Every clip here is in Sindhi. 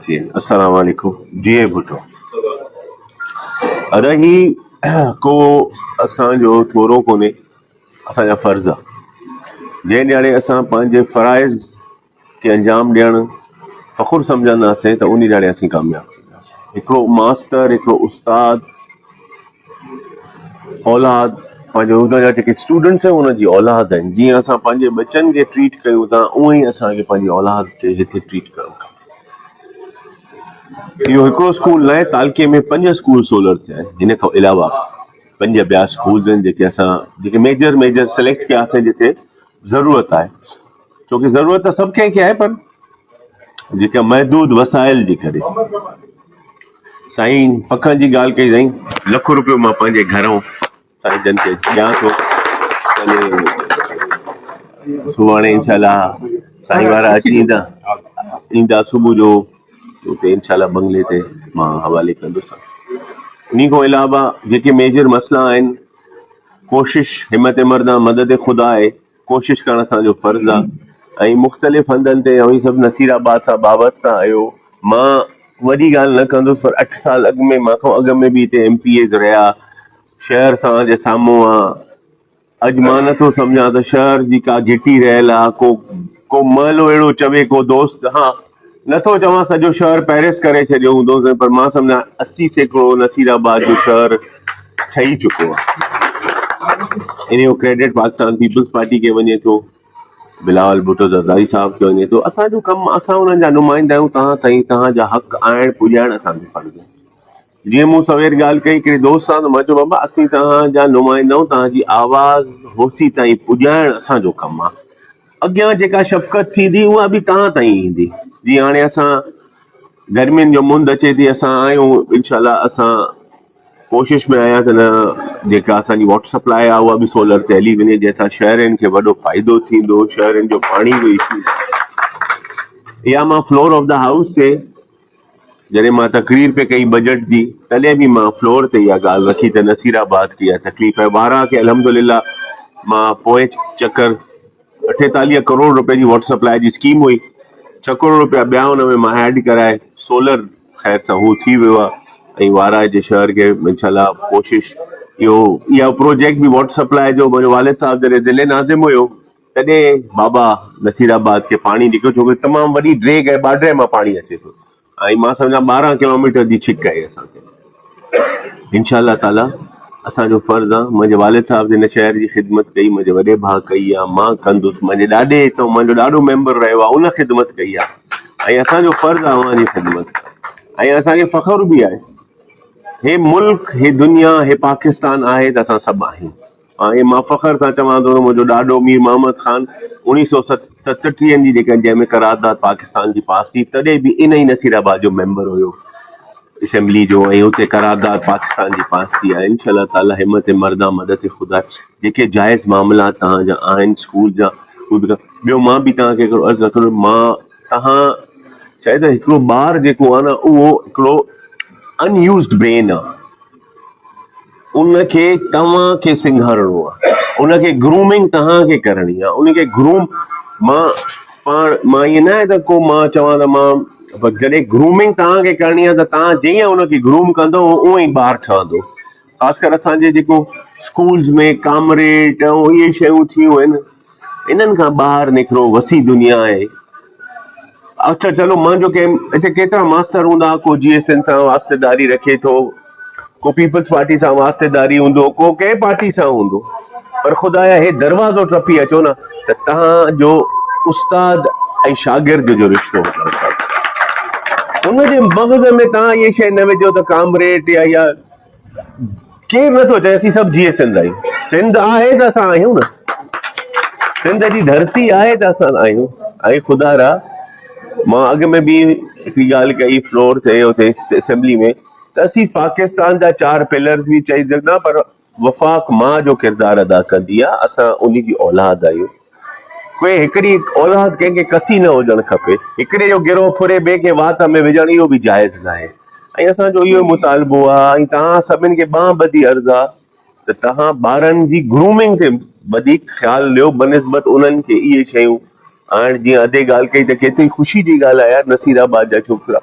السلام عليڪم جي اي ڀٽو ادا هي ڪو اسان جو ٿورو ڪونهي اسان جا فرض آ جنهن ڏياڙي اسان پنهنجي فرائض کي انجام ڏيڻ فخر سمجهنداسين ته ان ڏياڙي اسين ڪامياب ٿينداسين هڪڙو ماستر هڪڙو استاد اولاد پنهنجو هن جا جيڪي اسٽوڊنٽس آهن هن جي اولاد آهن جيئن اسان پنهنجي ٻچن کي ٽريٽ ڪيون ٿا اونئي اسانکي پنهنجي اولاد کي هتي ٽريٽ ڪرڻ کپي اهو هڪڙو اسڪول ناهي، تعلقي ۾ پنج اسڪول سولر ٿيا آهن، هن کان علاوه پنج ٻيا اسڪولز آهن جيڪي اسان جيڪي ميجر ميجر سليڪٽ ڪيا اٿن جتي ضرورت آهي، ڇو ڪي ضرورت ته سڀ ڪنهن کي آهي پر جيڪا محدود وسائل جي ڪري. سائين پکڻ جي ڳالهه ڪئي سائين لک روپيو مان پنهنجي گهران ساري جن کي ڏيان ٿو سڀاڻي انشاء الله سائين وارا اچي ايندا ايندا صبح جو اتي انشاء الله بنگلي تي مان حوالي ڪندس ان کان علاوه جيڪي ميجر مسئلا آهن ڪوشش همت مردان مدد خدا آهي ڪوشش ڪرڻ اسان جو فرض آ ۽ مختلف هنڌن تي اوهين سڀ نصير آباد سان وابسته آهيو مان وڏي ڳالهه نه ڪندس پر اٺ سال اڳ ۾ مان کان اڳ ۾ به هتي ايم پي ايز رهيا شهر سان جي سامهون آ اڄ مان نه ٿو سمجهان ته شهر جي ڪا گهٽي رهيل آ ڪو ڪو محلو اهڙو چوي ڪو دوست ها نه ٿو چوان سڄو شهر پئرس ڪري ڇڏيو هوندوسين پر مان سمجهان اسي سيڪڙو نصير آباد جو شهر ٺهي چڪو آهي ان جو ڪريڊٽ پاڪستان پيپلز پارٽي کي وڃي ٿو بلاول ڀٽو زرداري صاحب کي وڃي ٿو اسان جو ڪم اسان انهن جا نمائندا آهيون توهان سائين توهان جا حق آڻڻ پڄائڻ اسان جو فرض آهي جيئن مون سوير ڳالهه ڪئي هڪڙي دوست سان ته مان چيو بابا اسين توهان جا نمائندا آهيون توهان جي آواز هوسي تائين پڄائڻ اسان جو ڪم آهي اڳيان جيڪا شفقت ٿيندي اها به توهان تائين ايندي جيئن هاڻي اسان گرمين جو مند اچي ٿي اسان آهيون انشاء الله اسان ڪوشش ۾ آهيان ته نه جيڪا اسان جي واٽر سپلائي آهي اها به سولر تي هلي وڃي جنهن سان شهرين کي وڏو فائدو ٿيندو شهرين جو پاڻي جو ايشو يا مان فلور آف دا هائوس تي جڏهن مان تقرير پئي ڪئي بجيٽ جي تڏهن به مان فلور تي اها ڳالهه رکي ته نصير آباد کي اها تڪليف آهي وارا کي الحمدلله مان پوئين چڪر اٺيتاليهه ڪروڙ روپين جي واٽر سپلاء جي اسڪيم هئي ڇهه ڪروڙ روپيا ٻيا ان ۾ مان ايڊ ڪرائي سولر خير سان هو ٿي ويو آهي ۽ وارا جي شهر کي انشاءالله ڪوشش اهو اها پروجيڪٽ به واٽر سپلاء جو منهنجو والد صاحب جڏهن ضلعي ناظم هيو تڏهن بابا نصير آباد کي پاڻي نڪريو ڇو ڪري تمام وڏي ڊريگ آهي باڊري مان پاڻي اچي ٿو ۽ مان سمجهان ٻارهن ڪلوميٽر جي ڇڪ آهي اسان کي انشاء الله تعالي اسان جو فرض آ منهنجي والد صاحب جن شهر جي خدمت ڪئي منهنجي وڏي ڀاء ڪئي آ مان ڪندس منهنجي ڏاڏي هتو منهنجو ڏاڏو ميمبر رهيو آ ان خدمت ڪئي آ ۽ اسان جو فرض آ اوهان جي خدمت ۽ اسان کي فخر به آهي هي ملڪ هي دنيا هي پاڪستان آهي ته اسان سڀ آهيون ۽ مان فخر سان چوان ٿو ته منهنجو ڏاڏو مير محمد خان اوڻيهه سئو ستٽيهه جي جيڪا جنهن ۾ قرارداد پاڪستان جي پاس ٿي تڏهن به ان ئي نصير آباد جو ميمبر هيو اسيمبلي جو ۽ اتي قرارداد پاڪستان جي پاس ٿي آهي انشاء الله تعالي همت مردا مدد خدا جيڪي جائز معاملا توهان جا آهن اسڪول جا اهي به ٻيو مان به توهان کي هڪڙو عرض رکندو مان توهان چاهي ته هڪڙو ٻار جيڪو آهي نه اهو هڪڙو انيوزڊ برين آهي ان کي توهان کي سنگهارڻو آهي، ان کي گرومنگ توهان کي ڪرڻي آهي، ان کي گروم مان پاڻ مان ائين ناهي ته ڪو مان چوان ته مان بس جڏهن گرومنگ توهان کي ڪرڻي آهي ته توهان جيئن ان کي گروم ڪندو اونئن ئي ٻار ٺهندو خاص ڪر اسان جي جيڪو اسڪولز ۾ ڪامريڊ ۽ اهي شيون ٿيون آهن انهن کان ٻاهر نڪرو وسيع دنيا آهي. اچا چلو مان جو ڪيم اتي ڪيترا ماستر هوندا ڪو جي ايس اين سان واسطيداري رکي ٿو ڪو پيپلز پارٽي سان واسطيداري هوندو ڪو ڪنهن پارٽي سان هوندو پر خدايا هي دروازو ٽپي اچو نه ته تهان جو استاد ۽ شاگرد جو رشتو ان جي مغز ۾ تهان هي شي نه وجهو ته ڪامريٽ يا يا ڪير نٿو چئي اسين سڀ جيئي سنڌ آهيون سنڌ آهي ته اسان آهيون نه سنڌ جي ڌرتي آهي ته اسان آهيون ۽ خدا را مان اڳ ۾ به هڪ ڳالهه ڪئي فلور تي اتي اسيمبلي ۾ ته اسين پاڪستان جا چار پلرز به چئي سگهندا پر وفاق ماء جو ڪردار ادا ڪندي آهي اسان ان جي اولاد آهيون ڪنهن هڪڙي اولاد ڪنهن کي ڪسي نه هجڻ کپي، هڪڙي جو گروهه ڦري ٻئي کي وات ۾ وجهڻ اهو به جائز ناهي ۽ اسان جو اهو ئي مطالبو آهي ۽ توهان سڀني کي ٻانهن ٻڌي عرض آهي ته توهان ٻارن جي گرومنگ تي وڌيڪ خيال ڏيو بنسبت انهن کي اهي شيون آڻڻ جيئن ادي ڳالهه ڪئي ته ڪيتري خوشي جي ڳالهه آهي يار نصير آباد جا ڇوڪرا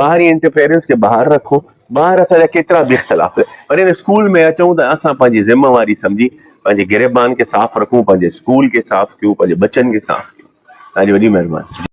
ٻاهرين انٽرفيئرنس کي ٻاهر رکو، ٻاهر اسان جا ڪيترا به اختلاف هجن پر ان اسڪول ۾ اچون ته اسان پنهنجي ذميواري سمجهي پنهنجي گريبان کي صاف رکون، پنهنجي اسڪول کي صاف ڪيون، پنهنجي ٻچن کي صاف ڪيون. توهان جي وڏي مهرباني.